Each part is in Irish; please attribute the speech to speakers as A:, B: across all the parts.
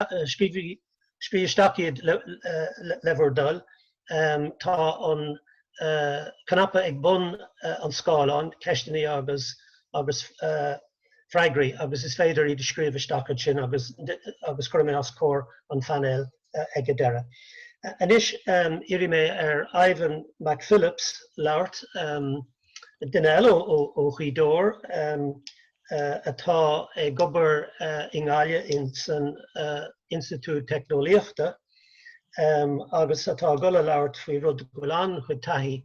A: Scríobh isteach iad le bhur dtoil. Tá an cnaipe ag bun an scáileáin, Ceisteanna agus Freagraí, agus is féidir iad a scríobh isteach ansin agus cuirfidh mé os comhair an phainéil ag an deireadh. Anois iarrfaidh mé ar Ivan McPhillips labhairt, duine eile ó Ghaoth Dobhair, atá ag obair i nGaillimh san Institiúid Teicneolaíochta agus atá ag dul a labhairt faoi rud go bhfuil an-chuid taithí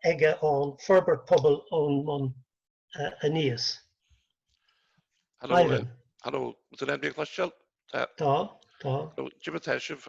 A: aige ann, forbairt pobail ón mbun
B: aníos. Ivan. Haló, Tá, tá. Cad é mar atá sibh.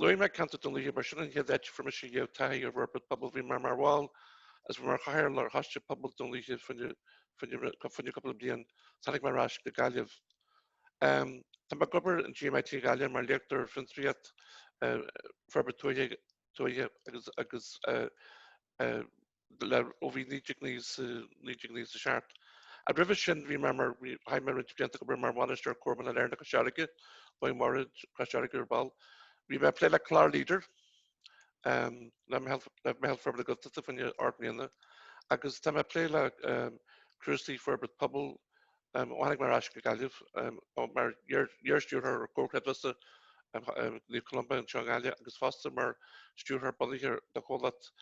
B: Luaigh mé ceantar Dhún Lúiche mar sin an chéad áit a fuair mise an chéad taithí ar fhorbairt pobail. Bhí mé mar bhall is bhí mé mar chathaoirleach ar choiste pobail Dhún Lúiche fá choinne cúpla bliain. Tháinig mé ar ais go Gaillimh. Tá mé ag obair in GMIT Gaillimh mar léachtóir ar fiontraíocht, forbairt tuaithe agus agus go léir ó bhí 1997. Ah roimhe sin bhí mé mar, chaith mé roinnt blianta ag obair mar bhainisteoir Comharchumann Shailearna Cois Fharraige, beidh mé ar ais Cois Fharraige ar ball. Bhí mé ag plé le clár Leader le Meitheal Forbartha Gaeltachta fá choinne ocht mbliana agus tá mé ag plé le cúrsaí forbairt pobail Tháinig mé ar ais go Gaillimh mar iar-stiúrthóir Comhar Creidmheasa Naomh Columba anseo i nGaillimh agus fosta mar stiúrthóir bunaithe do chomhlacht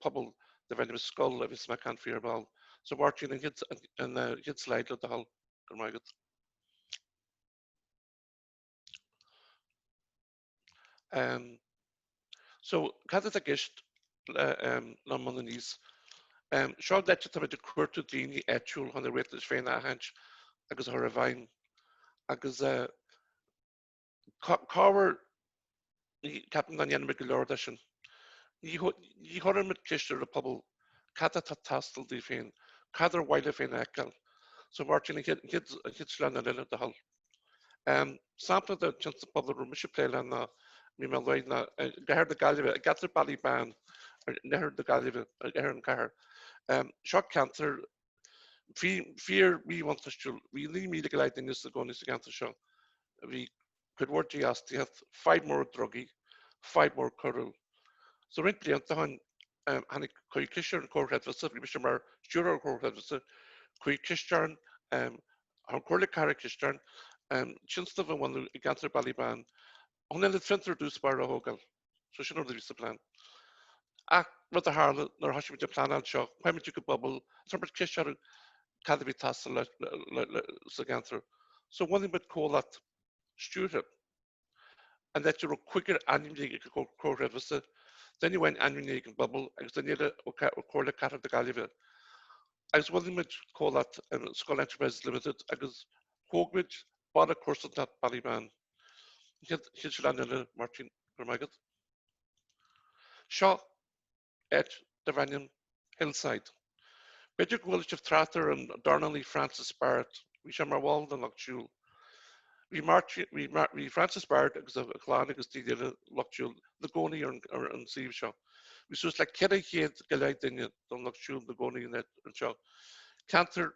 B: pobail darbh ainm SCCUL a bheas mé ag caint faoi ar ball. So Máirtín, an chéad slide le do thoil. Go raibh maith agat. Ehm. So, cad atá i gceist le ón mbun aníos? Ehm, seo an áit atá muid ag cuartú daoine áitiúil chun a riachtanais féin a aithint agus a chur i bhfeidhm. Agus eh, corruair, ceapaim nach ndéanann muid go leor de sin. Ní chuireann muid ceist ar an bpobal cad atá ag teastáil díobh féin, cad ar mhaith leo féin a fheiceáil. So, Máirtín, an chéad sleamhnán eile do thoil. Sampla de thionscnamh pobail a raibh mise ag plé leo ná bhí mé lonnaithe i gCathair na Gaillimhe, i gceantar Ballybane in oirthear na Gaillimhe, in oirthear an chathair. Seo ceantar fíor mhíbhuntáistiúil. Bhí 9,000 go leith duine ina gcónaí sa gceantar seo. Bhí cuid mhór dífhostaíocht, fadhb mhór drugaí, fadhb mhór coiriúil. So roinnt blianta ó shin cuireadh ceist ar an gComhar Creidmheasa, bhí mise mar stiúrthóir an Chomhar Chreidmheasa, cuireadh ceist orainn, Chuir Comhairle Cathrach ceist orainn tionscnamh a bhunú i gceantar Ballybane chun ionad fiontair i dtús báire a thógáil. So sin an rud a bhí sa plean. Ach rud a tharla nuair a thoisigh muid ag pleanáil seo, chuaigh muid chuig an bpobal is chuir muid ceist orthu cad a bhí ag teastáil sa gceantar. So bhunaigh muid comhlacht stiúrtha. an áit a raibh cúigear ainmnithe ag an gComhar Creidmheasa, duine amháin ainmnithe ag an bpobal agus duine eile ó Comhairle Cathrach na Gaillimhe. Agus bhunaigh muid comhlacht, SCCUL Enterprises Limited, agus thóg muid baile comharsanachta, Ballybane. An chéad sleamhnán eile, Máirtín, go raibh maith agat. Seo. áit darb ainm Hillside. B'fhéidir gur chuala sibh trácht ar an dornálaí Francis Barrett, bhí sé mar bhall den lucht siúil. Bhí Francis Barrett agus a chlann agus daoine eile lucht siúil ina gcónaí ar an suíomh seo. Bhí suas le céad, céad go leith duine don lucht siúil ina gcónaí anseo. Ceantar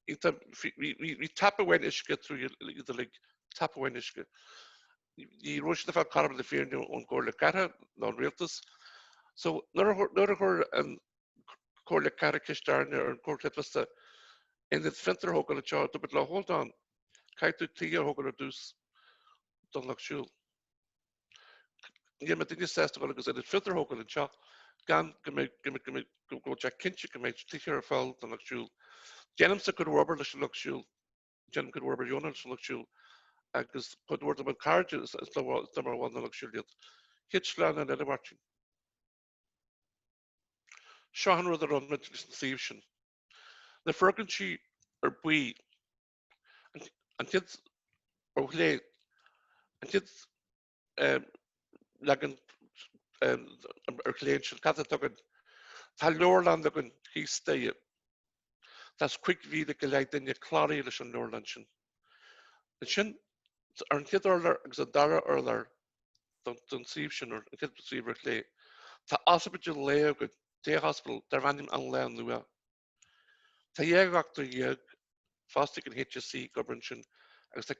B: Bhí tap amháin uisce trí iad uilig, tap amháin uisce. Ní raibh siad ag fáil cothrom na Féinne ón gComhairle Cathrach ná ón Rialtas. So, nuair a chuir an Comhairle Cathrach ceist orainne, ar an gComhar Creidmheasa, ionad fiontair a thógáil anseo, dúirt muid leo, Hold on, caithfidh tú tithe a thógáil ar dtús don Lucht Siúil. Níl muidne sásta dul agus ionad fiontair a thógáil anseo gan go mbeidh, go mbeidh, go mbeidh, go raibh sé cinnte go mbeidh tithe ar fáil don lucht siúil. Déanaimse cuid mhór obair leis an lucht siúil, déanaim cuid mhór obair dheonach leis an lucht siúil agus cuid mhór de mo chairde is mar bhall den lucht siúil iad. An chéad sleamhnán eile, Máirtín. Seo an rud a rinne muid leis an suíomh sin. Na foirgintí ar buí. An chéad ar chlé, an chéad leagan ar chlé ansin, cad atá againn? Tá leabharlann againn thíos staighre. Tá cúig mhíle go leith duine cláraithe leis an leabharlann sin. Ansin, ar an chéad urlár agus an dara urlár den suíomh sin, an chéad suíomh ar chlé, tá ospidéal lae againn, Day Hospital, darb ainm An Lá Nua. Tá dhá dhochtúir dhéag fostaithe ag an HSE ag obair ansin agus tá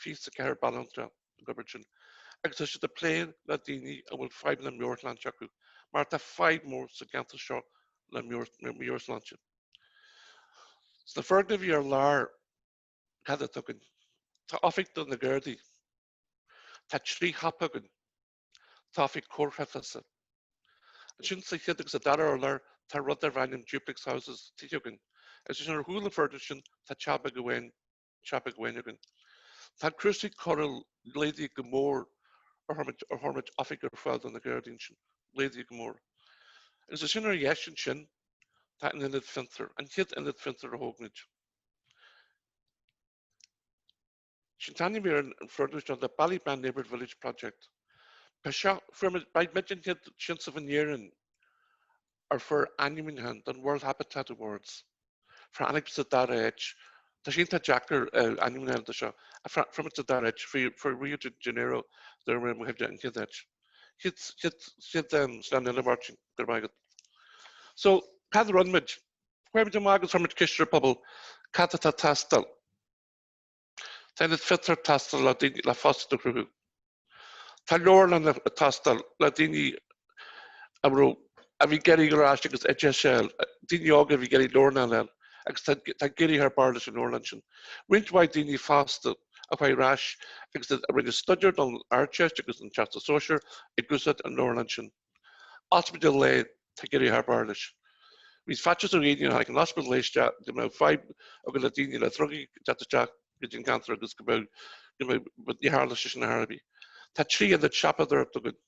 B: fiche is a ceathair banaltra ag obair ansin agus tá siad ag plé le daoine a bhfuil fadhbanna meabhairshláinte acu mar tá fadhb mhór sa gceantar seo le meabhairshláinte. Sna foirgnimh ar lár, cad atá againn? Tá oifig do na Gardaí. Tá trí shiopa againn. Tá oifig Comhar Creidmheasa. Ansin sa chéad agus sa dara urlár tá rud darb ainm duplex houses, tithe againn. Agus ansin ar chúl an foirgnimh sin tá teach beag amháin againn. Tá cúrsaí coiriúla laghdaithe go mór ó chuir muid oifig ar fáil do na gardaí ansin, laghdaithe go mór. Agus ansin ar dheis ansin tá an Ionad Fiontar, an chéad Ionad Fiontar a thóg muid. Sin t-ainm ar an fhorbairt, The Ballybane Neighbourhood Village Project. Ba seo, ba muid an chéad tionscnamh in Éirinn a fuair ainmniúchán don World Habitat Awards. Fuair muid sa dara háit, tá sé iontach deacair ainmniúchán dó seo, fuair muid sa dara háit, fuair Rio de Janeiro, a bhuaigh an chéad áit. Chéad, chéad, chéad sleamhnán eile Máirtín, go raibh maith agat. So, cad a rinne muid? Chuaigh muid amach agus chuir muid ceist ar an bpobal, cad atá ag teastáil? Tá ionad fiontair ag teastáil le fostaíocht a chruthú. Tá leabharlann ag teastáil le daoine a raibh a bhí ag iarraidh dul ar ais agus oideachas a fháil, daoine óga a bhí ag iarraidh leabharlann a fháil agus tá ag éirí thar barr leis an leabharlann sin. Roinnt mhaith daoine fásta a chuaigh ar ais agus a rinne staidéar don Ardteist agus don Teastas Sóisir ag úsáid an leabharlann sin. Ospidéal Lae, tá ag éirí thar barr leis. Bhí faitíos ar dhaoine nuair a tháinig an Ospidéal Lae isteach go mbeadh fadhb againn le daoine le drugaí ag teacht isteach go dtí an ceantar agus go mbeadh, go mbeadh, but níor tharla sé sin ar chor ar bith. Tá trí ionad siopadóireacht againn.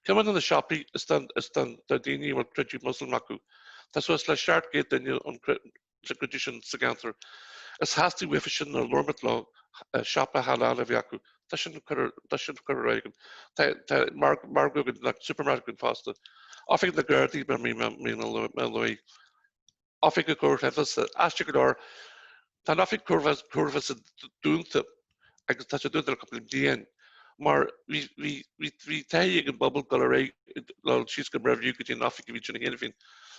B: Ceann de na siopaí is don, is don, do dhaoine a bhfuil creideamh Muslim acu. Tá suas le seacht gcéad duine ón, Traidisiún sa gceantar. Is theastaigh uathu sin nuair a labhair muid leo, siopa halal a bheith acu, tá sin curtha ar fáil againn. Tá margadh againn, supermarket againn fosta. Oifig na Gardaí mar a bhí mé a lua. Oifig an Chomhar Creidmheasa. Aisteach go leor, tá an Oifig Chomhar Creidmheasa dúnta. agus tá sí dúnta le cúpla bliain mar bhí bhí bhí bhí taithí ag an bpobal dul ar aghaidh dul síos go Mervue go dtí an oifig a bhí ansin cheana féin.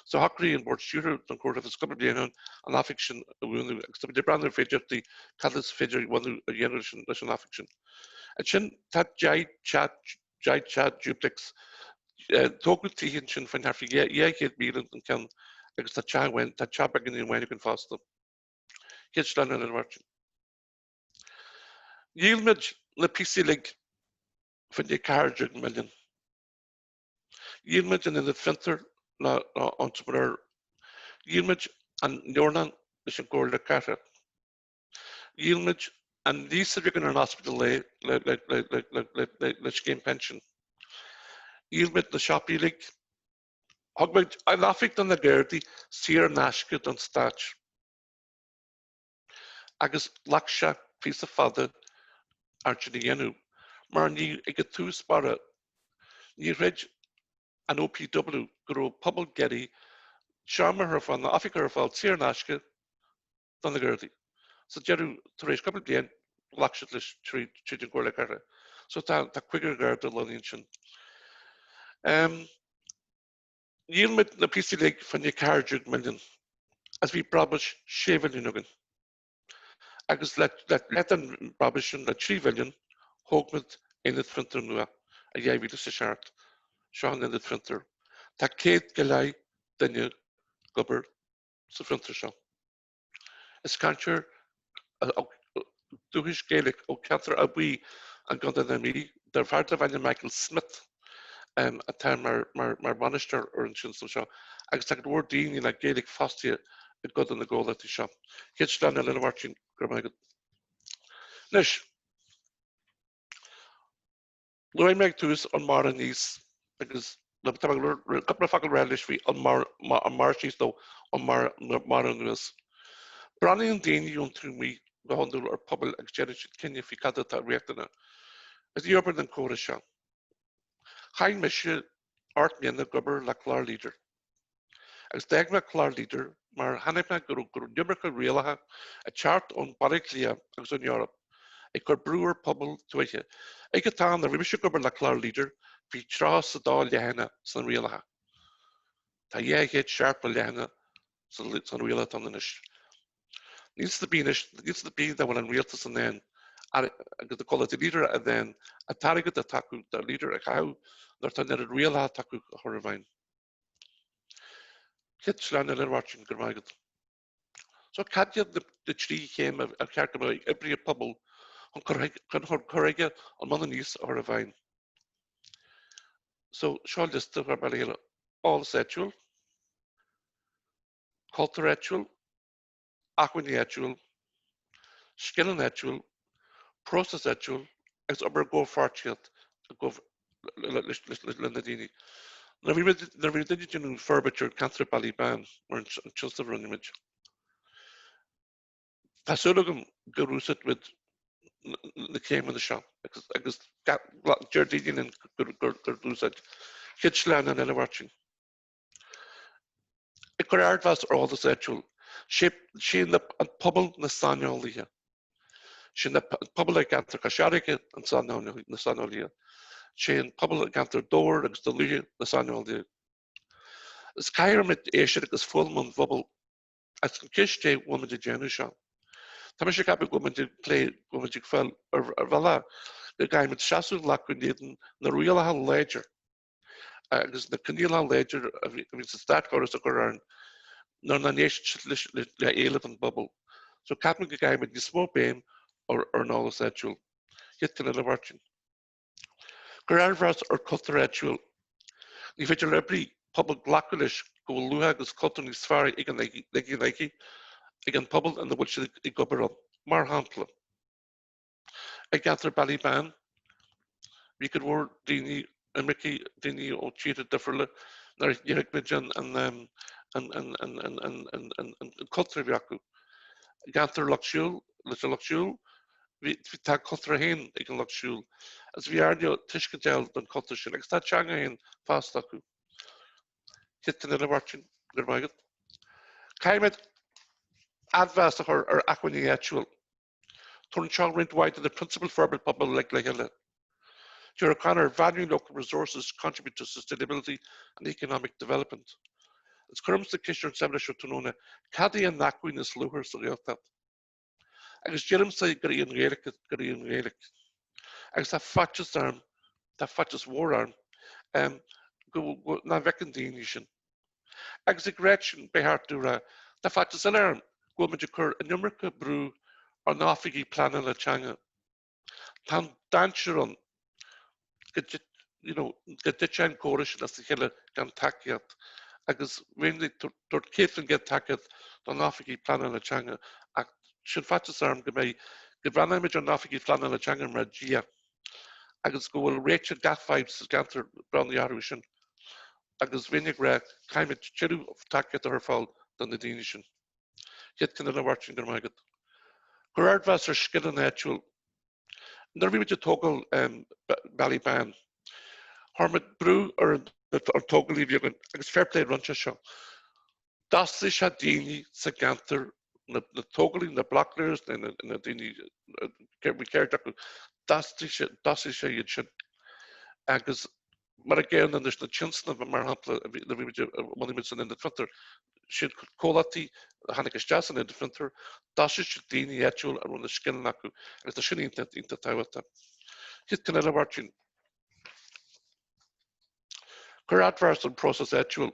B: So shocraigh an Bord Stiúrtha don Chomhar Creidmheasa cúpla bliain ó shin an oifig sin a dhúnadh agus tá muid ag breathnú ar féidearthachtaí cad is féidir linn a dhéanamh leis an oifig sin. Ansin tá deich dteach deich dteach duplex tógadh tithe ansin faoin thart fá dhá chéad míle an ceann agus tá teach amháin tá teach beag amháin againn fosta. Chéad sleamhnán eile a Mháirtín. Dhíol muid na píosaí uilig, fá choinne ceathair déag milliún. Dhíol muid an Ionad Fiontair le Entrepreneur, dhíol muid an Leabharlann leis an gComhairle Cathrach, dhíol muid an léas a bhí againn ar an Ospidéal Lae le scéim pinsin, dhíol muid na siopaí uilig, thug muid an Oifig do na Gardaí saor in aisce don Stáit. agus ghlac sé píosa fada air sin a dhéanamh mar ní ag a tús báire ní chreid an OPW go raibh pobal ag iarraidh seomra a chur ar fáil nó oifig a chur ar fáil saor in aisce do na Gardaí. Sa deireadh, tar éis cúpla bliain, ghlac siad leis tríd tríd an gComhairle Cathrach. So tá tá cúigear Garda lonnaithe ansin. Em. Dhíol muid na píosaí uilig fá choinne ceathair déag milliún agus bhí brabús sé mhilliún againn. Agus le leath den bhrabús sin le trí mhilliún, thóg muid aonad fiontair nua, i dhá mhíle is a seacht. Seo an aonad fiontair. Tá céad go leith duine ag obair sa fhiontar seo. Is cainteoir dúchais Gaeilge ó cheantar Áth Buí i gContae na Mí, dar fear darb ainm Michael Smith, atá mar bhainisteoir ar an tionscal seo, agus tá go leor daoine le Gaeilge fostaithe i gcuid de na gcomhlachtaí seo. Céad sleamhnán eile, a Mháirtín, go raibh maith agat. Anois. Luaigh mé ag tús ón mbarr aníos agus tá cúpla focal le rá anois faoi ón mbarr síos nó ón mbarr anuas. Breathnaíonn daoine ón taobh amuigh go hiondúil ar phobail agus déanann siad cinneadh faoi cad atá riachtanach. Is ní oibríonn an córas seo. Chaith mise ocht mbliana ag obair le clár Leader. Agus d'fhág mé clár Leader mar chonaic mé go raibh iomarca rialacha ag teacht ón Bhaile Átha Cliath agus ón Eoraip ag cur brú ar phobail tuaithe. Ag an t-am a raibh mise ag obair le clár Leader bhí tríocha is a dó leathanach sna rialacha. Tá dhá chéad seachtó leathanach sna rialacha atá ann anois. Ní iontas ar bith nach bhfuil an rialtas in ann agus na comhlachtaí Leader in ann an t-airgead atá acu do Leader a chaitheamh nuair atá an oiread rialacha atá acu á chur i bhfeidhm. Céad sleamhnán eile, a Mháirtín. Go raibh maith agat. So cad iad na trí chéim ar cheart d'oibrí pobail chun cur chuige ón mbun aníos a chur i bhfeidhm? So seo liosta a chuir mé le chéile, eolas áitiúil, cultúr áitiúil, acmhainní áitiúil, scileanna áitiúil, próisis áitiúil agus obair i gcomhpháirtíocht le na daoine. Nuair a bhí muid ag déanamh forbairt ar ceantar Ballybane, mar an tionscnamh a rinne muid, tá súil agam gur úsáid muid na céimeanna seo agus deir daoine linn gur úsáid. Céad sleamhnán eile, a Mháirtín. Ag cur ardmheas ar eolas áitiúil, sé an pobal, na saineolaithe. Sé an pobal i gceantar Chois Fharraige, na saineolaithe. Sé an pobal i gceantar Dhobhair agus Dún Lúiche, na saineolaithe. Is caithfidh muid éisteacht agus foghlaim ón bpobal agus an cheist é bhfuil muid ag déanamh seo. Tá mise ag ceapadh go bhfuil muid ag plé, go bhfuil muid ag fáil ar bhealach go gcaithfidh muid seasamh a ghlacadh in éadan na rialacha láidir. agus na coinníollacha láidir a bhíonns an státchóras ag cur orainn nuair nach n-éisteann siad le héilimh an phobail. So ceapaim go gcaithfidh muid níos mó béim ar an eolas áitiúil. Chéad cheann eile, a Mháirtín. Cuir ardmheas ar chultúr áitiúil. Ní féidir le oibrí pobail glacadh leis go bhfuil luach agus cultúr níos fearr ag an ag an ag an pobal ina bhfuil siad ag obair ann. Mar shampla. I gceantar Ballybane, bhí go leor daoine, imircigh, daoine ó tíortha difriúla, nár thuig muid an cultúr a bhí acu. I gceantar Lucht Siúil, leis an Lucht Siúil, tá a cultúr féin ag an Lucht Siúil, agus bhí orainn tuiscint a fháil don chultúr sin, agus tá a teanga féin fosta acu. Chéad cheann eile, a Mháirtín, go raibh maith agat. Caithfidh muid ardmheas a chur ar acmhainní áitiúil. Tugann seo roinnt mhaith de na prionsabail forbairt pobail le chéile. Deir O'Connor, 'Valuing local resources contributes to sustainability and economic development'. Agus cuirimse ceist ar an seimineár seo tráthnóna cad é an acmhainn is luachmhar sa Ghaeltacht. Agus deirimse gur í an Ghaeilge, gur í an Ghaeilge. Agus tá faitíos orm, tá faitíos mhór orm, go, nach bhfeiceann daoine sin. Agus ag rá sin, ba cheart dom a rá, tá faitíos eile orm go bhfuil muid ag cur an iomarca brú ar na hoifigigh pleanála teanga. Tá an dainséar ann go you know, go dtitfidh an córas sin as a chéile gan tacaíocht, agus bheinn ag tabhairt 100% tacaíocht do na hoifigigh pleanála teanga, ach sin faitíos eile orm go mbeidh go bhreathnaimid ar na hoifigigh phleanála teanga mar Dhia agus go bhfuil réiteach gach fadhb sa gceantar bronnta orthu sin. agus bheinn ag rá caithfimid tuilleadh tacaíocht a chur ar fáil do na daoine sin. Chéad cheann eile, a Mháirtín go raibh maith agat. Cuir ardmheas ar scileanna áitiúil. Nuair a bhí muid ag tógáil Ballybane, chuir muid brú ar an tógálaí a bhí againn agus fair play rinne sé seo. D'fhastaigh sé daoine sa gceantar, na tógálaí, na blocklayers, na daoine bhí ceird acu, d'fhastaigh sé iad sin agus mar an gcéanna leis na tionsnaimh, mar shampla, a bhí muid a bhunaigh muid san Ionad Fiontar, siad comhlachtaí a tháinig isteach san Ionad Fiontar, d'fhostaigh siad daoine áitiúla a raibh na scileanna acu agus tá sin iontach, iontach tábhachtach. An chéad cheann eile, a Mháirtín. Cuir adbhar san próiseas áitiúil.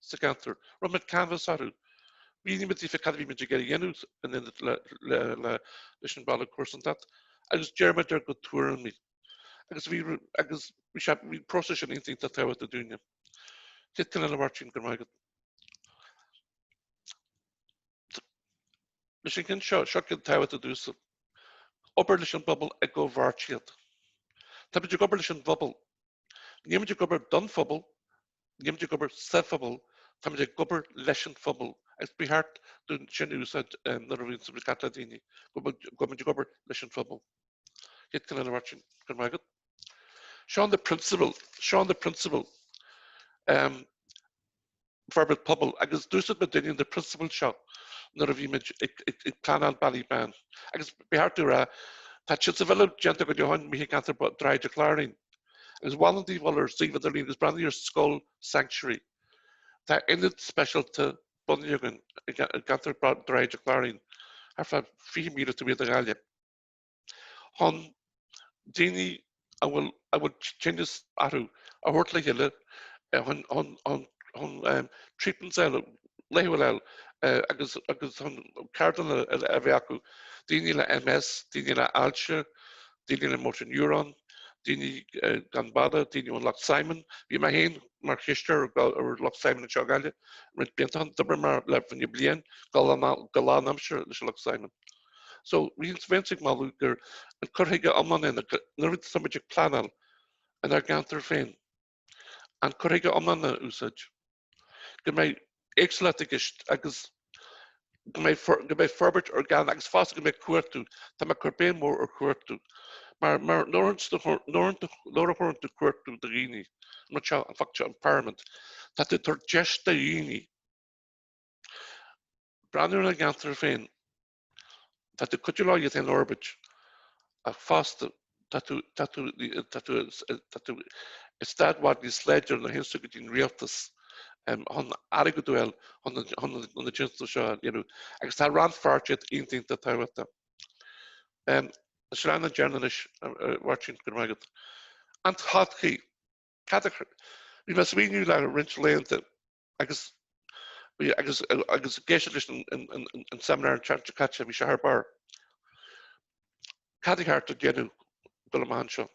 B: sa gceantar. Rinne muid canbhás orthu. Mhínigh muid daofa cad a bhí muid ag iarraidh a dhéanamh in éineacht leis an baile comharsanacht agus d'iarr muid ar a gcuid tuairimí. Agus bhí, agus bhí sé, bhí an próiseas sin iontach tábhachtach dúinne. An chéad cheann eile, a Mháirtín. Go raibh maith agat. Leis an gceann seo, seo ceann tábhachtach domhsa. Obair leis an bpobal i gcomhpháirtíocht. Táimid ag obair leis an bpobal. Níl muid ag obair don phobal, nílimid ag obair sa phobal, táimid ag obair leis an phobal agus ba cheart dúinn sin a úsáid nuair a bhíonns muid ag caint le daoine, go go muid ag obair leis an phobal. An chéad cheann eile, a Mháirtín. Go raibh maith agat. Seo iad na prionsabail, seo iad na prionsabail, em, forbairt pobail agus d'úsáid muidne na prionsabail seo nuair a bhí muid ag pleanáil Ballybane agus ba cheart dom a rá tá siad sa bhille déanta go deo i gceantar Dhroichead an Chláirín agus mholfainn daoibh a dhul ar suíomh idirlín agus breathnú ar SCCUL Sanctuary. Tá ionad speisialta bunaithe againn i gceantar Dhroichead an Chláirín, thart fá 20 míle taobh amuigh de Ghaillimh, chun daoine a bhfuil a bhfuil tinneas orthu a thabhairt le chéile chun chun chun treatments eile laethúil a fháil agus agus chun ceardlanna a bheith acu, daoine le MS, daoine le ailse, daoine le Motor Neuron, daoine gan bhaile, daoine ón Lucht Simon. Bhí mé féin mar chisteoir ar Lucht Simon anseo i nGaillimh roinnt blianta ó shin. D'oibrigh mé leo fá choinne bliain go lán aimsire leis an Lucht Simon. So, bheinnse bheinnse ag moladh gur an cur chuige iomlán é nuair atá muid ag pleanáil in ár gceantar féin. An cur chuige iomlán a úsáid. Go mbeidh éagsúlacht i gceist agus go mbeidh go mbeidh forbairt orgánach agus fosta go mbeidh cumhachtú, tá mé ag cur béim mhór ar chumhachtú mar mar nuair a thabhrann tú cumhachtú do dhaoine, an rud seo, an focal seo empowerment, tá tú ag tabhairt deis do dhaoine breathnú ar a gceantar féin, Tá tú ag cuidiú leo iad féin a fhorbairt ach fosta tá tú, tá tú, tá tú, tá tú i staid i bhfad níos láidre nuair a théanns tú go dtí an rialtas chun airgead a fháil chun chun na tionscadail seo a dhéanamh agus tá rannpháirtíocht iontach iontach tábhachtach. An sleamhnán deireanach anois, a Mháirtín, go raibh maith agat. An todhchaí? Cad a, bhí mé ag smaoineamh le roinnt laethanta Agus agus agus ag éisteacht leis an seimineár an tseachtain seo caite bhí sé thar barr, cad a cheart a dhéanamh go le maith anseo?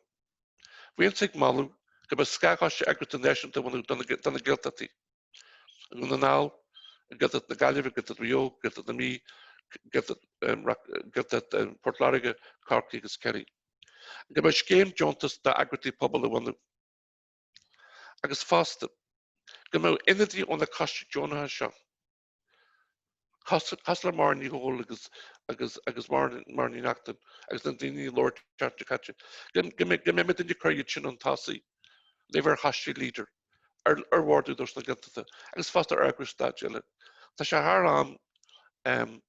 B: Bheinn ag moladh go mbeadh scátheagraíocht náisiúnta a bhunú do na Gaeltachtaí, Dhún na nGall, Gaeltacht na Gaillimhe, Gaeltacht Mhaigh Eo, Gaeltacht na Mí, Gaeltacht Phort Láirge, Cork agus Kerry. Go mbeadh scéim deontas d'eagraíochtaí pobail a bhunú. agus fosta, go mbeadh ionadaithe ó na coistí deonacha seo, cosúil le Máire Ní Dhubhghaill agus Máire Ní Neachtain agus na daoine a labhair an tseachtain seo caite, go mbeidh muid in ann cur iad sin chun tosaigh, le bheith ar choistí LEADER, ar bhord Údarás na Gaeltachta agus fosta ar eagrais stáit eile. Tá sé thar am.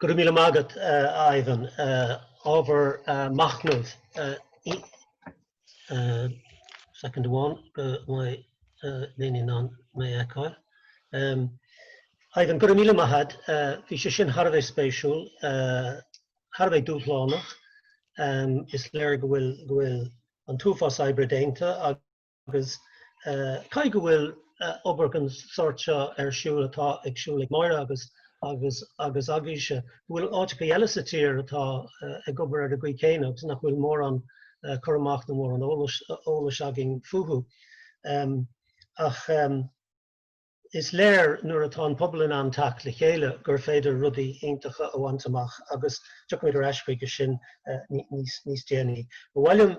A: Go raibh míle maith agat, a Ivan. Ábhar machnaimh Soicind amháin go mbeidh Léinín in ann mé a fheiceáil. Ivan, go raibh míle maith agat. Bhí sé sin thar a bheith spéisiúil, thar a bheith dúshlánach. Is léir go bhfuil an t-uafás oibre déanta. Agus caithfidh go bhfuil obair den tsórt seo ar siúl, atá ag siúl ag Máire agus agaibhse. Go bhfuil áiteachaí eile sa tír atá ag obair ar an gcaoi chéanna agus nach bhfuil mórán cur amach nó mórán eolais againn fúthu. Ach is léir nuair atá an pobal in ann teacht le chéile gur féidir rudaí iontacha a bhaint amach agus tiocfaimid ar ais chuige sin níos déanaí. Ba mhaith liom.